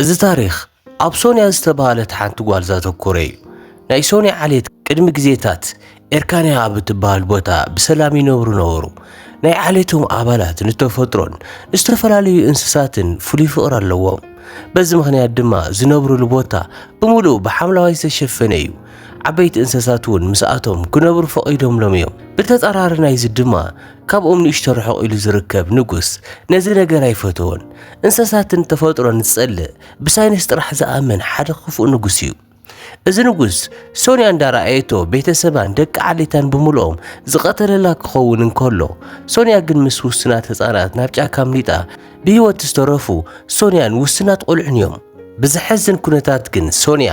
እዚ ታሪኽ ኣብ ሶንያ ዝተባህለት ሓንቲ ጓል ዘተኮረ እዩ። ናይ ሶንያ ዓሌት ቅድሚ ግዜታት ኤርካንያ ኣብ እትበሃል ቦታ ብሰላም ይነብሩ ነበሩ። ናይ ዓሌቶም ኣባላት ንተፈጥሮን ንዝተፈላለዩ እንስሳትን ፍሉይ ፍቕሪ ኣለዎም። በዚ ምኽንያት ድማ ዝነብሩሉ ቦታ ብምሉእ ብሓምለዋይ ዝተሸፈነ እዩ። ዓበይቲ እንስሳት እውን ምስኣቶም ክነብሩ ፈቒዶምሎም እዮም። ብተጻራሪ ናይዚ ድማ ካብኦም ንእሽቶ ርሕቕ ኢሉ ዝርከብ ንጉስ ነዚ ነገር ኣይፈተዎን። እንሰሳትን ተፈጥሮን ዝጸልእ ብሳይንስ ጥራሕ ዝኣምን ሓደ ክፉእ ንጉስ እዩ። እዚ ንጉስ ሶንያ እንዳረኣየቶ ቤተሰባን ደቂ ዓሌታን ብምልኦም ዝቐተለላ ክኸውን እንከሎ ሶንያ ግን ምስ ውሱናት ህፃናት ናብ ጫካ ኣምሊጣ ብህይወት ዝተረፉ ሶንያን ውሱናት ቆልዑን እዮም። ብዘሐዝን ኩነታት ግን ሶንያ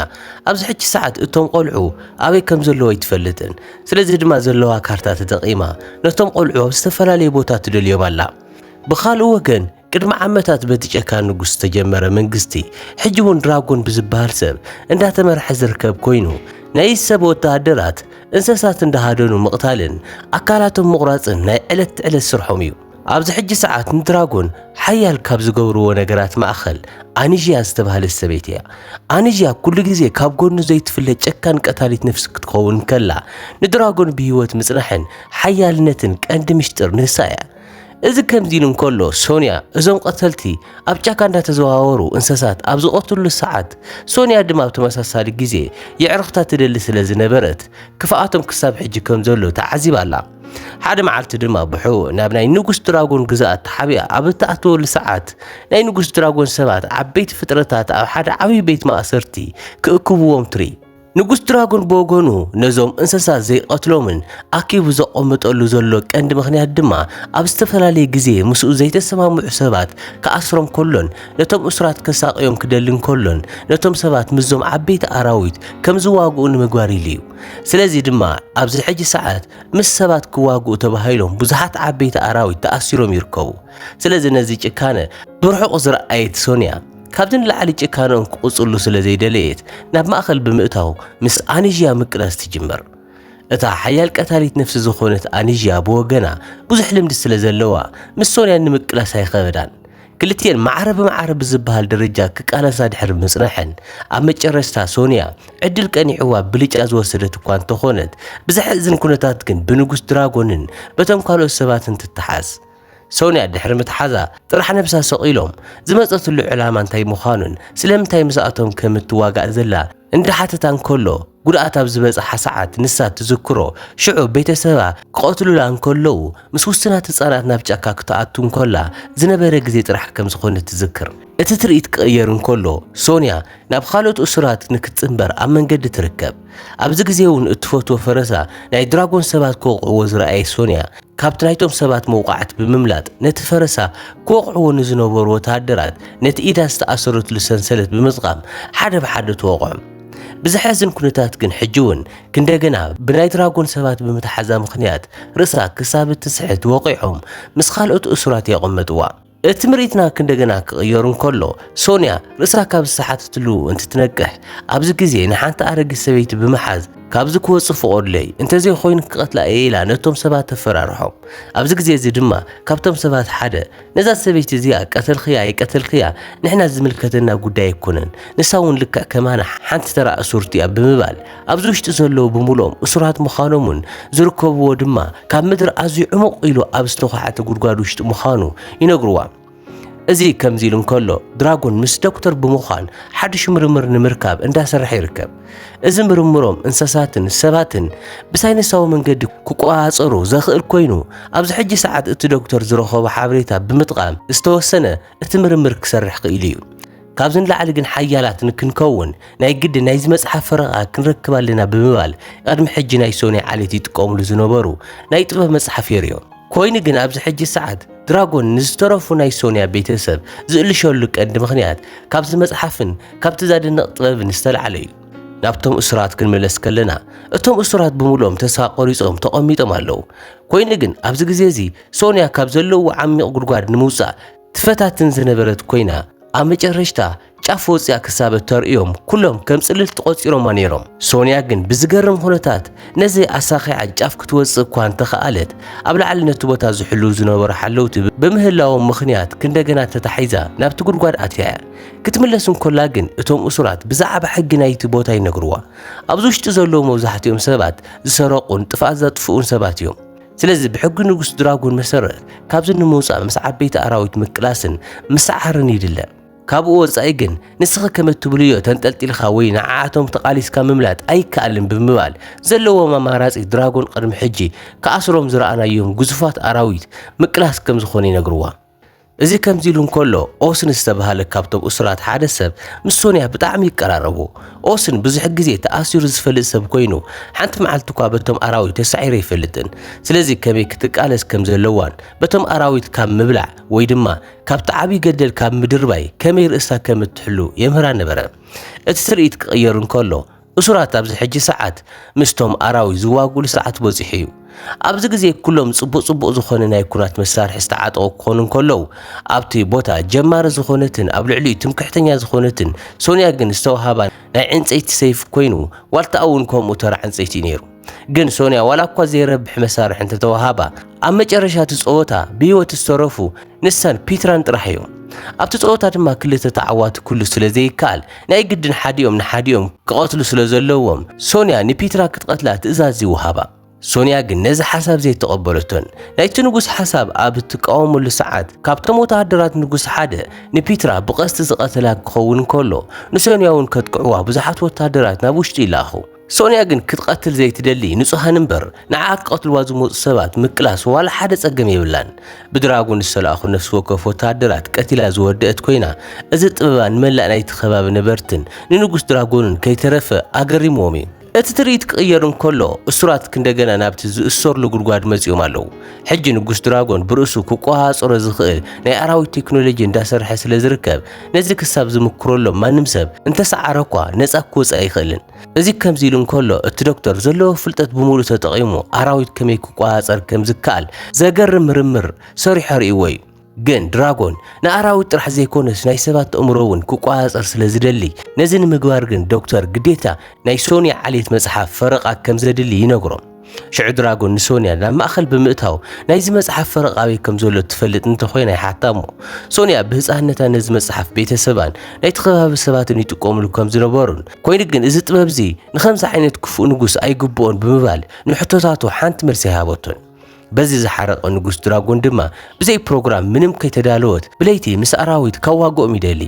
ኣብዚ ሕጂ ሰዓት እቶም ቆልዑ ኣበይ ከም ዘለዎ ኣይትፈልጥን። ስለዚ ድማ ዘለዋ ካርታ ተጠቒማ ነቶም ቆልዑ ኣብ ዝተፈላለየ ቦታ ትደልዮም ኣላ። ብኻልእ ወገን ቅድሚ ዓመታት በቲ ጨካን ንጉስ ዝተጀመረ መንግስቲ ሕጂ እውን ድራጎን ብዝበሃል ሰብ እንዳተመርሐ ዝርከብ ኮይኑ ናይ ሰብ ወተሃደራት እንስሳት እንዳሃደኑ ምቕታልን ኣካላቶም ምቑራፅን ናይ ዕለት ዕለት ስርሖም እዩ። ኣብዚ ሕጂ ሰዓት ንድራጎን ሓያል ካብ ዝገብርዎ ነገራት ማእኸል ኣኒዥያ ዝተባህለት ሰበይቲ እያ። ኣኒዥያ ኩሉ ግዜ ካብ ጎኑ ዘይትፍለ ጨካን ቀታሊት ነፍሲ ክትኸውን እንከላ፣ ንድራጎን ብህይወት ምጽናሕን ሓያልነትን ቀንዲ ምሽጥር ንሳ እያ። እዚ ከምዚ ኢሉ እንከሎ፣ ሶንያ እዞም ቀተልቲ ኣብ ጫካ እንዳተዘዋወሩ እንሰሳት ኣብ ዝቐትሉሉ ሰዓት፣ ሶንያ ድማ ኣብ ተመሳሳሊ ግዜ የዕርኽታ ትደሊ ስለ ዝነበረት፣ ክፍኣቶም ክሳብ ሕጂ ከም ዘሎ ተዓዚባ ኣላ። ሓደ መዓልቲ ድማ ብሑ ናብ ናይ ንጉስ ድራጎን ግዝኣት ተሓቢኣ ኣብ እትኣትወሉ ሰዓት ናይ ንጉስ ድራጎን ሰባት ዓበይቲ ፍጥረታት ኣብ ሓደ ዓብዪ ቤት ማእሰርቲ ክእክብዎም ትርኢ። ንጉስ ድራጎን ብወገኑ ነዞም እንስሳ ዘይቐትሎምን ኣኪቡ ዘቐምጠሉ ዘሎ ቀንዲ ምኽንያት ድማ ኣብ ዝተፈላለየ ግዜ ምስኡ ዘይተሰማምዑ ሰባት ክኣስሮም ከሎን ነቶም እሱራት ከሳቕዮም ክደልን ከሎን ነቶም ሰባት ምስዞም ዓበይቲ ኣራዊት ከም ዝዋግኡ ንምግባር ኢሉ እዩ። ስለዚ ድማ ኣብዚ ሕጂ ሰዓት ምስ ሰባት ክዋግኡ ተባሂሎም ብዙሓት ዓበይቲ ኣራዊት ተኣሲሮም ይርከቡ። ስለዚ ነዚ ጭካነ ብርሑቑ ዝረኣየት ሶንያ ካብዚ ንላዕሊ ጭካነኦም ክቕጽሉ ስለ ዘይደለየት ናብ ማእከል ብምእታው ምስ ኣኒዥያ ምቅላስ ትጅምር። እታ ሓያል ቀታሊት ነፍሲ ዝኾነት ኣኒዥያ ብወገና ብዙሕ ልምዲ ስለ ዘለዋ ምስ ሶንያ ንምቅላስ ኣይኸበዳን። ክልቲኤን ማዕረ ብማዕረ ብዝበሃል ደረጃ ክቃለሳ ድሕሪ ምጽናሐን፣ ኣብ መጨረስታ ሶንያ ዕድል ቀኒዕዋ ብልጫ ዝወሰደት እኳ እንተኾነት፣ ብዘሕእዝን ኩነታት ግን ብንጉስ ድራጎንን በቶም ካልኦት ሰባትን ትተሓዝ። ሶንያ ድሕሪ ምትሓዛ ጥራሕ ነብሳ ሰቒሎም፣ ዝመጸትሉ ዕላማ እንታይ ምዃኑን ስለምንታይ ምስኣቶም ከም እትዋጋእ ዘላ፣ እንዳሓተታ እንከሎ ጉድኣት ኣብ ዝበጽሓ ሰዓት ንሳ ትዝክሮ ሽዑ ቤተሰባ ክቐትሉላ እንከለዉ ምስ ውሱናት ህጻናት ናብ ጫካ ክትኣቱ እንከላ ዝነበረ ግዜ ጥራሕ ከም ዝኾነ ትዝክር። እቲ ትርኢት ክቕየር እንከሎ ሶንያ ናብ ኻልኦት እሱራት ንክትጽንበር ኣብ መንገዲ ትርከብ። ኣብዚ ግዜ'ውን እትፈትዎ ፈረሳ ናይ ድራጎን ሰባት ክወቕዕዎ ዝረኣየት ሶንያ፣ ካብቲ ናይቶም ሰባት መውቓዕቲ ብምምላጥ ነቲ ፈረሳ ክወቕዕዎ ንዝነበሩ ወተሃደራት ነቲ ኢዳ ዝተኣሰረትሉ ሰንሰለት ብምጥቓም ሓደ ብሓደ ተወቕዖም። ብዘሕዝን ኩነታት ግን ሕጂ እውን ክንደገና ብናይ ድራጎን ሰባት ብምትሓዛ ምኽንያት ርእሳ ክሳብ እትስሕት ወቒዖም ምስ ካልኦት እሱራት የቐመጥዋ። እቲ ምርኢትና ክንደገና ክቕየሩ እንከሎ፣ ሶንያ ርእሳ ካብ ዝተሓተትሉ እንትትነቅሕ፣ ኣብዚ ግዜ ንሓንቲ ኣረጊት ሰበይቲ ብምሓዝ ካብዚ ክወጽእ ፍቐዱለይ፣ እንተዘይኮይኑ ክቐትላ እየ ኢላ ነቶም ሰባት ተፈራርሖም። ኣብዚ ግዜ እዚ ድማ ካብቶም ሰባት ሓደ፣ ነዛ ሰበይቲ እዚኣ ቀተልክያ ኣይቀተልክያ ንሕና ዝምልከተና ጉዳይ ኣይኮነን፣ ንሳ እውን ልክዕ ከማና ሓንቲ ተራ እሱርቲ'ያ ብምባል ኣብዚ ውሽጢ ዘለዉ ብምሉኦም እሱራት ምዃኖምን ዝርከብዎ ድማ ካብ ምድሪ ኣዝዩ ዕሙቕ ኢሉ ኣብ ዝተዃዕተ ጉድጓድ ውሽጢ ምዃኑ ይነግርዋ። እዚ ከምዚ ኢሉ እንከሎ ድራጎን ምስ ዶክተር ብምዃን ሓድሽ ምርምር ንምርካብ እንዳሰርሐ ይርከብ። እዚ ምርምሮም እንሰሳትን ሰባትን ብሳይንሳዊ መንገዲ ክቆጻጸሩ ዘኽእል ኮይኑ ኣብዚ ሕጂ ሰዓት እቲ ዶክተር ዝረኸቦ ሓበሬታ ብምጥቓም ዝተወሰነ እቲ ምርምር ክሰርሕ ክኢሉ እዩ። ካብዚ ንላዕሊ ግን ሓያላት ንክንከውን ናይ ግድን ናይዚ መጽሓፍ ፈረቓ ክንረክብ ኣለና ብምባል ቐድሚ ሕጂ ናይ ሶንያ ዓሌት ይጥቀሙሉ ዝነበሩ ናይ ጥበብ መጽሓፍ የርእዮ። ኮይኑ ግን ኣብዚ ሕጂ ሰዓት ድራጎን ንዝተረፉ ናይ ሶንያ ቤተሰብ ዝእልሸሉ ቀንዲ ምኽንያት ካብዚ መጽሓፍን ካብቲ ዛደንቕ ጥበብን ዝተላዕለ እዩ። ናብቶም እሱራት ክንምለስ ከለና እቶም እሱራት ብምሉኦም ተስፋ ቆሪጾም ተቐሚጦም ኣለዉ። ኮይኑ ግን ኣብዚ ግዜ እዚ ሶንያ ካብ ዘለውዎ ዓሚቕ ጉድጓድ ንምውጻእ ትፈታትን ዝነበረት ኮይና ኣብ መጨረሽታ ጫፍ ወጽያ ክሳብ እተርእዮም ኩሎም ከም ጽልልቲ ቆጺሮማ ነይሮም። ሶንያ ግን ብዝገርም ኩነታት ነዚ ኣሳኺዓ ጫፍ ክትወጽእ እኳ እንተኸኣለት ኣብ ላዕሊ ነቲ ቦታ ዝሕልዉ ዝነበሩ ሓለውቲ ብምህላዎም ምኽንያት ክንደገና ተታሒዛ ናብቲ ጉድጓድ ኣትያ እያ። ክትምለስ እንኮላ ግን እቶም እሱራት ብዛዕባ ሕጊ ናይቲ ቦታ ይነግርዋ። ኣብዚ ውሽጢ ዘለዉ መብዛሕትኦም ሰባት ዝሰረቑን ጥፍኣት ዘጥፍኡን ሰባት እዮም። ስለዚ ብሕጊ ንጉስ ድራጎን መሰረት ካብዚ ንምውፃእ ምስ ዓበይቲ ኣራዊት ምቅላስን ምስዓርን ይድለ። ካብኡ ወፃኢ ግን ንስኺ ከም እትብልዮ ተንጠልጢልካ ወይ ንዓዓቶም ተቓሊስካ ምምላጥ ኣይከኣልን ብምባል ዘለዎም ኣማራፂ ድራጎን ቕድሚ ሕጂ ክኣስሮም ዝረኣናዮም ግዙፋት ኣራዊት ምቅላስ ከም ዝኾነ ይነግርዋ። እዚ ከምዚ ኢሉ እንከሎ፣ ኦስን ዝተባህለ ካብቶም እሱራት ሓደ ሰብ ምስ ሶንያ ብጣዕሚ ይቀራረቡ። ኦስን ብዙሕ ግዜ ተኣሲሩ ዝፈልጥ ሰብ ኮይኑ፣ ሓንቲ መዓልቲ እኳ በቶም ኣራዊት ተሳዒሩ ኣይፈልጥን። ስለዚ ከመይ ክትቃለስ ከም ዘለዋን በቶም ኣራዊት ካብ ምብላዕ ወይ ድማ ካብቲ ዓብዪ ገደል ካብ ምድርባይ ከመይ ርእሳ ከም እትሕሉ የምህራ ነበረ። እቲ ትርኢት ክቕየር እንከሎ፣ እሱራት ኣብዚ ሕጂ ሰዓት ምስቶም ኣራዊት ዝዋግእሉ ሰዓት በጺሑ እዩ። ኣብዚ ግዜ ኩሎም ጽቡቅ ጽቡቅ ዝኾነ ናይ ኩናት መሳርሒ ዝተዓጠቁ ክኾኑ እንከለው ኣብቲ ቦታ ጀማሪ ዝኾነትን ኣብ ልዕሊኡ ትምክሕተኛ ዝኾነትን ሶንያ ግን ዝተውሃባ ናይ ዕንጸይቲ ሰይፊ ኮይኑ ዋልታኣ እውን ከምኡ ተራ ዕንጸይቲ እዩ ነይሩ። ግን ሶንያ ዋላ እኳ ዘይረብሕ መሳርሒ እንተተዋሃባ ኣብ መጨረሻ እቲ ጸወታ ብህይወት ዝተረፉ ንሳን ፒትራን ጥራሕ እዮም። ኣብቲ ጸወታ ድማ ክልተ ተዓዋቲ ክህሉ ስለ ዘይከኣል ናይ ግድን ሓዲኦም ንሓዲኦም ክቐትሉ ስለ ዘለዎም ሶንያ ንፒትራ ክትቐትላ ትእዛዝ ይወሃባ። ሶንያ ግን ነዚ ሓሳብ ዘይተቐበለቶን ናይቲ ንጉስ ሓሳብ ኣብ እትቃወመሉ ሰዓት ካብቶም ወተሃደራት ንጉስ ሓደ ንፒትራ ብቐስቲ ዝቐተላ ክኸውን ከሎ ንሶንያ እውን ከጥቅዕዋ ብዙሓት ወተሃደራት ናብ ውሽጢ ይላኣኹ። ሶንያ ግን ክትቐትል ዘይትደሊ ንጹሃን እምበር ንዓኣ ክቐትልዋ ዝመጹ ሰባት ምቅላስ ዋላ ሓደ ጸገም የብላን። ብድራጎን ዝተላእኹ ነፍሲ ወከፍ ወተሃደራት ቀቲላ ዝወደእት ኮይና እዚ ጥበባ ንመላእ ናይቲ ከባቢ ነበርትን ንንጉስ ድራጎንን ከይተረፈ ኣገሪምዎም እዩ። እቲ ትርኢት ክቕየር እንከሎ እሱራት ክንደገና ናብቲ ዝእሰርሉ ጉድጓድ መጺኦም ኣለዉ። ሕጂ ንጉስ ድራጎን ብርእሱ ክቆሃጸሮ ዝኽእል ናይ ኣራዊት ቴክኖሎጂ እንዳሰርሐ ስለዝርከብ ነዚ ክሳብ ዝምክረሎም ማንም ሰብ እንተሰዓረኳ ነጻ ክወጽእ ኣይኽእልን። እዚ ከምዚ ኢሉ እንከሎ እቲ ዶክተር ዘለዎ ፍልጠት ብምሉእ ተጠቒሙ ኣራዊት ከመይ ክቆጻጸር ከም ዝከኣል ዘገርም ምርምር ሰሪሑ ኣርእይዎ እዩ። ግን ድራጎን ንኣራዊት ጥራሕ ዘይኮነስ ናይ ሰባት ኣእምሮ እውን ክቆጻጸር ስለ ዝደሊ፣ ነዚ ንምግባር ግን ዶክተር ግዴታ ናይ ሶንያ ዓሌት መጽሓፍ ፈረቓ ከም ዘድሊ ይነግሮም። ሽዑ ድራጎን ንሶንያ ናብ ማእኸል ብምእታው ናይዚ መጽሓፍ ፈረቓ ኣበይ ከም ዘሎ እትፈልጥ እንተኾይና ይሓታ እሞ ሶንያ ብህፃንነታ ነዚ መጽሓፍ ቤተሰባን ናይቲ ከባቢ ሰባትን ይጥቀሙሉ ከም ዝነበሩን ኮይኑ ግን እዚ ጥበብ እዚ ንከምዚ ዓይነት ክፉእ ንጉስ ኣይግብኦን ብምባል ንሕቶታቱ ሓንቲ መልሲ ኣይሃበቶን። በዚ ዝሓረቐ ንጉስ ድራጎን ድማ ብዘይ ፕሮግራም ምንም ከይተዳለወት ብለይቲ ምስ ኣራዊት ካብ ዋግኦም ይደሊ።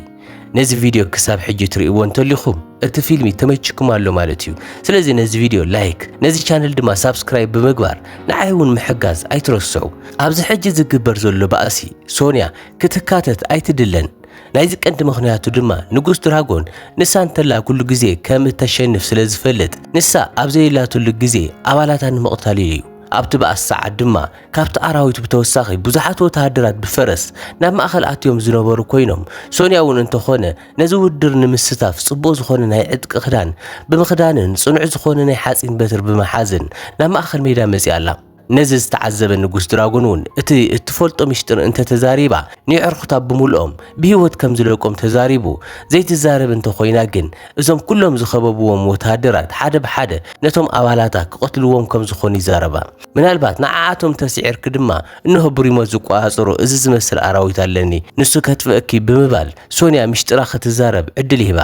ነዚ ቪድዮ ክሳብ ሕጂ ትርእይዎ እንተሊኹም እቲ ፊልሚ ተመችኩም ኣሎ ማለት እዩ። ስለዚ ነዚ ቪድዮ ላይክ፣ ነዚ ቻነል ድማ ሳብስክራይብ ብምግባር ንዓይ እውን ምሕጋዝ ኣይትረስዑ። ኣብዚ ሕጂ ዝግበር ዘሎ ባእሲ ሶንያ ክትካተት ኣይትድለን። ናይዚ ቀንዲ ምኽንያቱ ድማ ንጉስ ድራጎን ንሳ እንተላ ኩሉ ግዜ ከም እተሸንፍ ስለ ዝፈልጥ ንሳ ኣብ ዘየላትሉ ግዜ ኣባላታ ንምቕታል ኢሉ እዩ። ኣብቲ ባእሲ ሰዓት ድማ ካብቲ ኣራዊት ብተወሳኺ ብዙሓት ወተሃደራት ብፈረስ ናብ ማእኸል ኣትዮም ዝነበሩ ኮይኖም ሶንያ እውን እንተኾነ ነዚ ውድድር ንምስታፍ ጽቡቕ ዝኾነ ናይ ዕጥቂ ክዳን ብምኽዳንን ጽኑዕ ዝኾነ ናይ ሓጺን በትር ብምሓዝን ናብ ማእኸል ሜዳ መጺኣ ኣላ። ነዚ ዝተዓዘበ ንጉስ ድራጎን እውን እቲ እትፈልጦ ሚሽጥር እንተተዛሪባ ንየዕርኹታ ብምልኦም ብህይወት ከም ዝለቆም ተዛሪቡ ዘይትዛረብ እንተኾይና ግን እዞም ኩሎም ዝኸበብዎም ወተሃደራት ሓደ ብሓደ ነቶም ኣባላታ ክቐትልዎም ከም ዝኾኑ ይዛረባ። ምናልባት ንዓኣቶም ተስዒርኪ ድማ እንሆ ብሪሞት ዝቆጻጸሮ እዚ ዝመስል ኣራዊት ኣለኒ ንሱ ከጥፍእኪ ብምባል ሶንያ ምሽጥራ ክትዛረብ ዕድል ይህባ።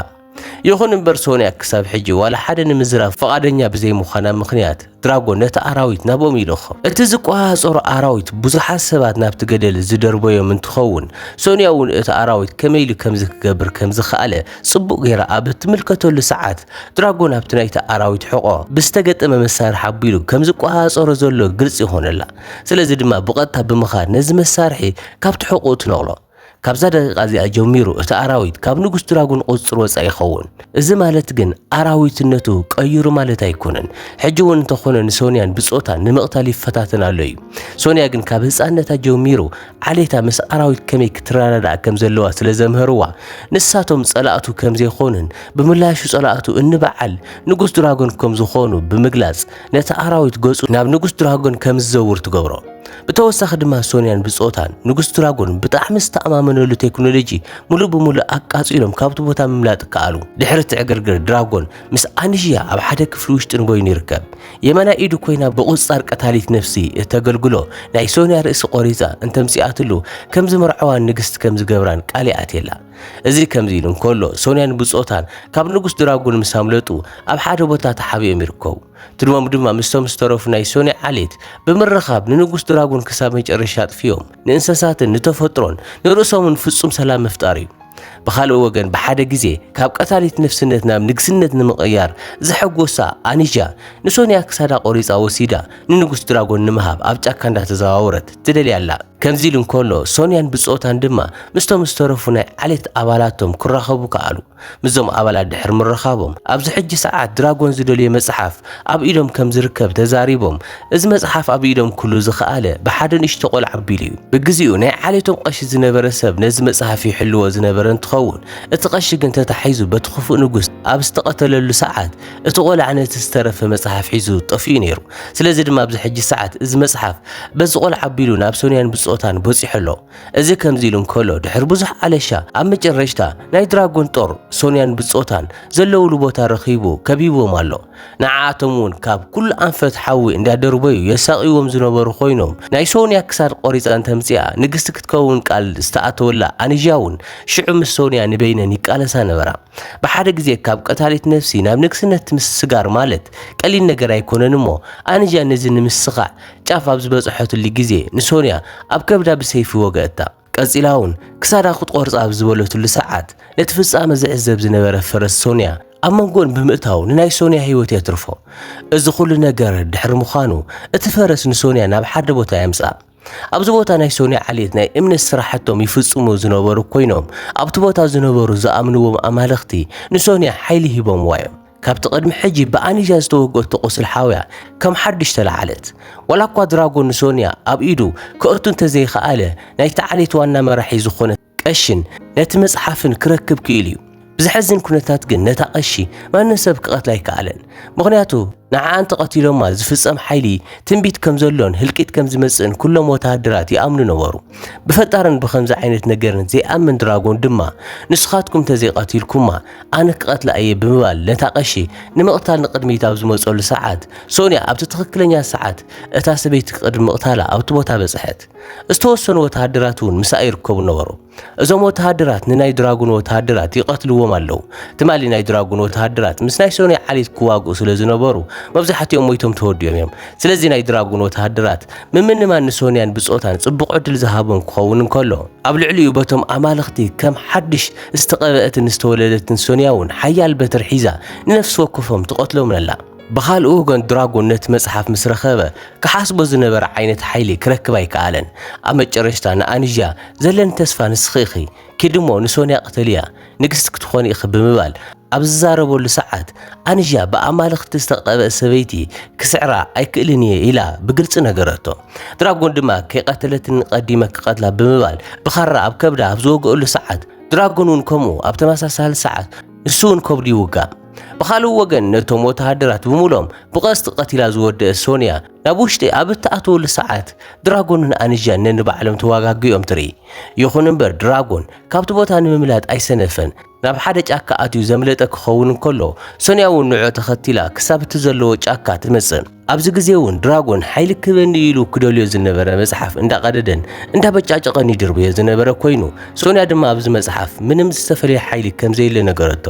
ይኹን እምበር ሶንያ ክሳብ ሕጂ ዋላ ሓደ ንምዝራብ ፍቓደኛ ብዘይምዃና ምኽንያት ድራጎን ነቲ ኣራዊት ናብኦም ይልእኾ። እቲ ዝቆጻጸሮ ኣራዊት ብዙሓት ሰባት ናብቲ ገደል ዝደርበዮም እንትኸውን ሶንያ እውን እቲ ኣራዊት ከመይ ኢሉ ከምዚ ክገብር ከምዝኸኣለ ጽቡቕ ገይራ ኣብ እትምልከተሉ ሰዓት፣ ድራጎን ኣብቲ ናይቲ ኣራዊት ሕቖ ብዝተገጠመ መሳርሒ ኣቢሉ ከም ዝቆጻጸሮ ዘሎ ግልጺ ይዀነላ። ስለዚ ድማ ብቐጥታ ብምኻድ ነዚ መሳርሒ ካብቲ ሕቖኡ ትነቕሎ። ካብዛ ደቒቓ እዚኣ ጀሚሩ እቲ ኣራዊት ካብ ንጉስ ድራጎን ቁጽጽር ወጻኢ ይኸውን። እዚ ማለት ግን ኣራዊትነቱ ቀይሩ ማለት ኣይኰነን። ሕጂ እውን እንተዀነ ንሶንያን ብጾታን ንምቕታል ይፈታተን ኣሎ እዩ። ሶንያ ግን ካብ ህጻንነታ ጀሚሩ ዓሌታ ምስ ኣራዊት ከመይ ክትረዳዳእ ከም ዘለዋ ስለ ዘምህርዋ ንሳቶም ጸላእቱ ከም ዘይኮኑን ብምላሹ ጸላእቱ እንበዓል ንጉስ ድራጎን ከም ዝኾኑ ብምግላጽ ነቲ ኣራዊት ገጹ ናብ ንጉስ ድራጎን ከም ዝዘውር ትገብሮ። ብተወሳኺ ድማ ሶንያን ብጾታን ንጉስ ድራጎን ብጣዕሚ ዝተኣማመነሉ ቴክኖሎጂ ሙሉእ ብሙሉእ ኣቃጺሎም ካብቲ ቦታ ምምላጥ ከኣሉ። ድሕሪ እቲ ዕግርግር ድራጎን ምስ ኣንዥያ ኣብ ሓደ ክፍሊ ውሽጢ ንበይኑ ይርከብ። የማናይ ኢዱ ኮይና ብቑጽጻር ቀታሊት ነፍሲ እተገልግሎ ናይ ሶንያ ርእሲ ቈሪጻ እንተ ኣምጺኣትሉ ከም ዝመርዓዋን ንግስቲ ከም ዝገብራን ቃል ይኣትየላ። እዚ ከምዚ ኢሉ እንከሎ ሶንያን ብጾታን ካብ ንጉስ ድራጉን ምስ ኣምለጡ ኣብ ሓደ ቦታ ተሓቢኦም ይርከቡ። ትልሞም ድማ ምስቶም ዝተረፉ ናይ ሶንያ ዓሌት ብምርኻብ ንንጉስ ድራጉን ክሳብ መጨረሻ ኣጥፊኦም ንእንሰሳትን ንተፈጥሮን ንርእሶምን ፍጹም ሰላም ምፍጣር እዩ። ብኻልእ ወገን ብሓደ ግዜ ካብ ቀታሊት ነፍስነት ናብ ንግስነት ንምቕያር ዘሐጎሳ ኣኒጃ ንሶንያ ክሳዳ ቆሪጻ ወሲዳ ንንጉስ ድራጎን ንምሃብ ኣብ ጫካ እንዳተዘዋወረት ትደልያ ኣላ። ከምዚ ኢሉ እንከሎ ሶንያን ብጾታን ድማ ምስቶም ዝተረፉ ናይ ዓሌት ኣባላቶም ክራኸቡ ከኣሉ። ምስዞም ኣባላት ድሕሪ ምርኻቦም ኣብዚ ሕጂ ሰዓት ድራጎን ዝደልዮ መጽሓፍ ኣብ ኢዶም ከም ዝርከብ ተዛሪቦም እዚ መጽሓፍ ኣብ ኢዶም ክሉ ዝኸኣለ ብሓደ ንእሽቶ ቆልዓ ኣቢሉ እዩ። ብግዚኡ ናይ ዓሌቶም ቐሺ ዝነበረ ሰብ ነዚ መጽሓፍ ይሕልዎ ዝነበረ እንትኸውን፣ እቲ ቐሺ ግን ተታሒዙ በቲ ክፉእ ንጉስ ኣብ ዝተቐተለሉ ሰዓት እቲ ቆልዓ ነቲ ዝተረፈ መጽሓፍ ሒዙ ጠፊኡ ነይሩ። ስለዚ ድማ ኣብዚ ሕጂ ሰዓት እዚ መጽሓፍ በዚ ቆልዓ ኣቢሉ ናብ ሶንያን ብጾታን በጺሑ ኣሎ። እዚ ከምዚ ኢሉ እንከሎ ድሕሪ ብዙሕ ኣለሻ ኣብ መጨረሽታ ናይ ድራጎን ጦር ሶንያን ብጾታን ዘለውሉ ቦታ ረኺቡ ከቢብዎም ኣሎ። ንዓኣቶም እውን ካብ ኩሉ ኣንፈት ሓዊ እንዳደርበዩ የሳቕይዎም ዝነበሩ ኮይኖም ናይ ሶንያ ክሳድ ቆሪጻ እንተምጺኣ ንግስቲ ክትከውን ቃል ዝተኣተወላ ኣንዣ እውን ሽዑ ምስ ሶንያ ንበይነን ይቃለሳ ነበራ። ብሓደ ግዜ ካብ ቀታሊት ነፍሲ ናብ ንግስነት ምስስጋር ማለት ቀሊል ነገር ኣይኮነን እሞ ኣንዣ ነዚ ንምስኻዕ ጫፍ ኣብ ዝበጽሐትሉ ግዜ ንሶንያ ኣብ ከብዳ ብሰይፊ ወገእታ። ቀጺላ እውን ክሳዳ ክትቖርጻ ኣብ ዝበለትሉ ሰዓት ነቲ ፍጻመ ዝዕዘብ ዝነበረ ፈረስ ሶንያ ኣብ መንጎን ብምእታው ንናይ ሶንያ ህይወት የትርፎ። እዚ ኩሉ ነገር ድሕሪ ምዃኑ እቲ ፈረስ ንሶንያ ናብ ሓደ ቦታ የምጽኣ። ኣብዚ ቦታ ናይ ሶንያ ዓሌት ናይ እምነት ስራሕቶም ይፍጽሙ ዝነበሩ ኮይኖም ኣብቲ ቦታ ዝነበሩ ዝኣምንዎም ኣማልኽቲ ንሶንያ ሓይሊ ሂቦምዋ እዮም። ካብቲ ቅድሚ ሕጂ ብኣኒጃ ዝተወግኦቶ ቁስሊ ሓውያ ከም ሓድሽ ተላዓለት። ዋላ እኳ ድራጎ ንሶንያ ኣብ ኢዱ ከእቱ እንተዘይኸኣለ ናይቲ ዓሌት ዋና መራሒ ዝኾነ ቀሺን ነቲ መጽሓፍን ክረክብ ክኢሉ እዩ። ብዘሕዝን ኩነታት ግን ነታ ቀሺ ማንም ሰብ ክቐትላ ኣይከኣለን። ምኽንያቱ ንዓኣ እንተቐቲሎማ ዝፍጸም ሓይሊ ትንቢት ከም ዘሎን ህልቂት ከም ዝመጽእን ኩሎም ወተሃደራት ይኣምኑ ነበሩ። ብፈጣርን ብኸምዚ ዓይነት ነገርን ዘይኣምን ድራጎን ድማ ንስኻትኩም እንተዘይቐቲልኩማ ኣነ ክቐትላ እየ ብምባል ነታ ቀሺ ንምቕታል ንቕድሚት ኣብ ዝመጸሉ ሰዓት፣ ሶንያ ኣብቲ ትኽክለኛ ሰዓት እታ ሰበይቲ ቅድሚ ምቕታላ ኣብቲ ቦታ በጽሐት። ዝተወሰኑ ወተሃደራት እውን ምስኣ ይርከቡ ነበሩ። እዞም ወተሃደራት ንናይ ድራጉን ወተሃደራት ይቐትልዎም ኣለዉ። ትማሊ ናይ ድራጉን ወተሃደራት ምስ ናይ ሶንያ ዓሌት ክዋግኡ ስለ ዝነበሩ መብዛሕትኦም ሞይቶም ተወዲኦም እዮም። ስለዚ ናይ ድራጉን ወተሃደራት ምምንማን ንሶንያን ብጾታን ጽቡቕ ዕድል ዝሃቦም ክኸውን እንከሎ፣ ኣብ ልዕሊኡ በቶም ኣማልኽቲ ከም ሓድሽ ዝተቐብአትን ዝተወለደትን ሶንያ እውን ሓያል በትሪ ሒዛ ንነፍሲ ወከፎም ትቐትሎም ኣላ። ብኻልእ ወገን ድራጎን ነቲ መጽሓፍ ምስ ረኸበ ክሓስቦ ዝነበረ ዓይነት ሓይሊ ክረክብ ኣይከኣለን። ኣብ መጨረሽታ ንኣንዣ፣ ዘለኒ ተስፋ ንስኺ ኢኺ፣ ኪዲ እሞ ንሶንያ ቅተልያ፣ ንግስቲ ክትኾኒ ኢኺ ብምባል ኣብ ዝዛረበሉ ሰዓት፣ ኣንዣ ብኣማልኽቲ ዝተቐብአት ሰበይቲ ክስዕራ ኣይክእልን እየ ኢላ ብግልጺ ነገረቶ። ድራጎን ድማ ከይቐተለትኒ ቀዲመ ክቐትላ ብምባል ብኻራ ኣብ ከብዳ ኣብ ዝወግእሉ ሰዓት ድራጎን እውን ከምኡ ኣብ ተመሳሳሊ ሰዓት ንሱ እውን ከብዱ ይውጋእ። ብኻልእ ወገን ነቶም ወተሃደራት ብምሎም ብቐስቲ ቀቲላ ዝወደእ ሶንያ ናብ ውሽጢ ኣብ እትኣትወሉ ሰዓት ድራጎንን ኣንዣን ነንባዕሎም ተዋጋጊኦም ትርኢ። ይኹን እምበር ድራጎን ካብቲ ቦታ ንምምላጥ ኣይሰነፈን። ናብ ሓደ ጫካ ኣትዩ ዘምለጠ ክኸውን እንከሎ፣ ሶንያ እውን ንዕዑ ተኸቲላ ክሳብ እቲ ዘለዎ ጫካ ትመጽእ። ኣብዚ ግዜ እውን ድራጎን ሓይሊ ክህበኒ ኢሉ ክደልዮ ዝነበረ መጽሓፍ እንዳቐደደን እንዳበጫጨቐን ይድርብዮ ዝነበረ ኮይኑ፣ ሶንያ ድማ ኣብዚ መጽሓፍ ምንም ዝተፈለየ ሓይሊ ከምዘየለ ነገረቶ።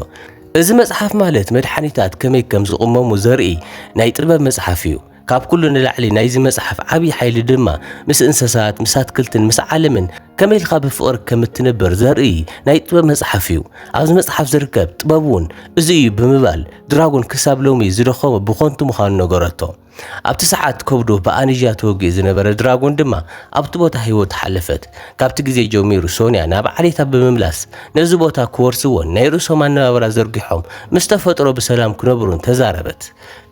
እዚ መጽሓፍ ማለት መድሓኒታት ከመይ ከም ዝቕመሙ ዘርኢ ናይ ጥበብ መጽሓፍ እዩ። ካብ ኩሉ ንላዕሊ ናይዚ መጽሓፍ ዓብዪ ሓይሊ ድማ ምስ እንሰሳት፣ ምስ ኣትክልትን ምስ ዓለምን ከመይ ኢልካ ብፍቕሪ ከም እትነብር ዘርኢ ናይ ጥበብ መጽሓፍ እዩ። ኣብዚ መጽሓፍ ዝርከብ ጥበብ እውን እዚ እዩ ብምባል ድራጎን ክሳብ ሎሚ ዝደኸሞ ብኾንቱ ምዃኑ ነገረቶ። ኣብቲ ሰዓት ከብዱ ብኣንዣ ተወጊኡ ዝነበረ ድራጎን ድማ ኣብቲ ቦታ ህይወቱ ሓለፈት። ካብቲ ግዜ ጀሚሩ ሶንያ ናብ ዓሌታ ብምምላስ ነዚ ቦታ ክወርስዎን ናይ ርእሶም ኣነባብራ ዘርጊሖም ምስ ተፈጥሮ ብሰላም ክነብሩን ተዛረበት።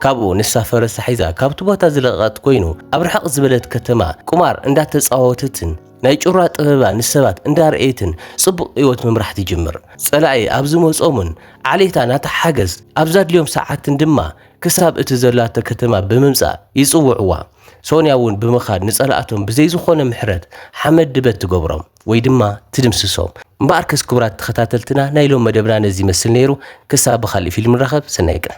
ካብኡ ንሳ ፈረሳ ሒዛ ካብቲ ቦታ ዝለቐቐት ኮይኑ ኣብ ርሕቕ ዝበለት ከተማ ቁማር እንዳተጻወተትን ናይ ጩራ ጥበባ ንሰባት እንዳርኣየትን ጽቡቕ ህይወት ምምራሕ ትጅምር። ጸላኢ ኣብ ዝመጾምን ዓሌታ ናታ ሓገዝ ኣብ ዛድልዮም ሰዓትን ድማ ክሳብ እቲ ዘላቶ ከተማ ብምምጻእ ይጽውዕዋ። ሶንያ እውን ብምኻድ ንጸላእቶም ብዘይ ዝኾነ ምሕረት ሓመድ ድበት ትገብሮም ወይ ድማ ትድምስሶም። እምበኣርከስ ክቡራት ተኸታተልትና ናይ ሎም መደብና ነዚ ይመስል ነይሩ። ክሳብ ብኻልእ ፊልም ንራኸብ ሰናይ ቀን።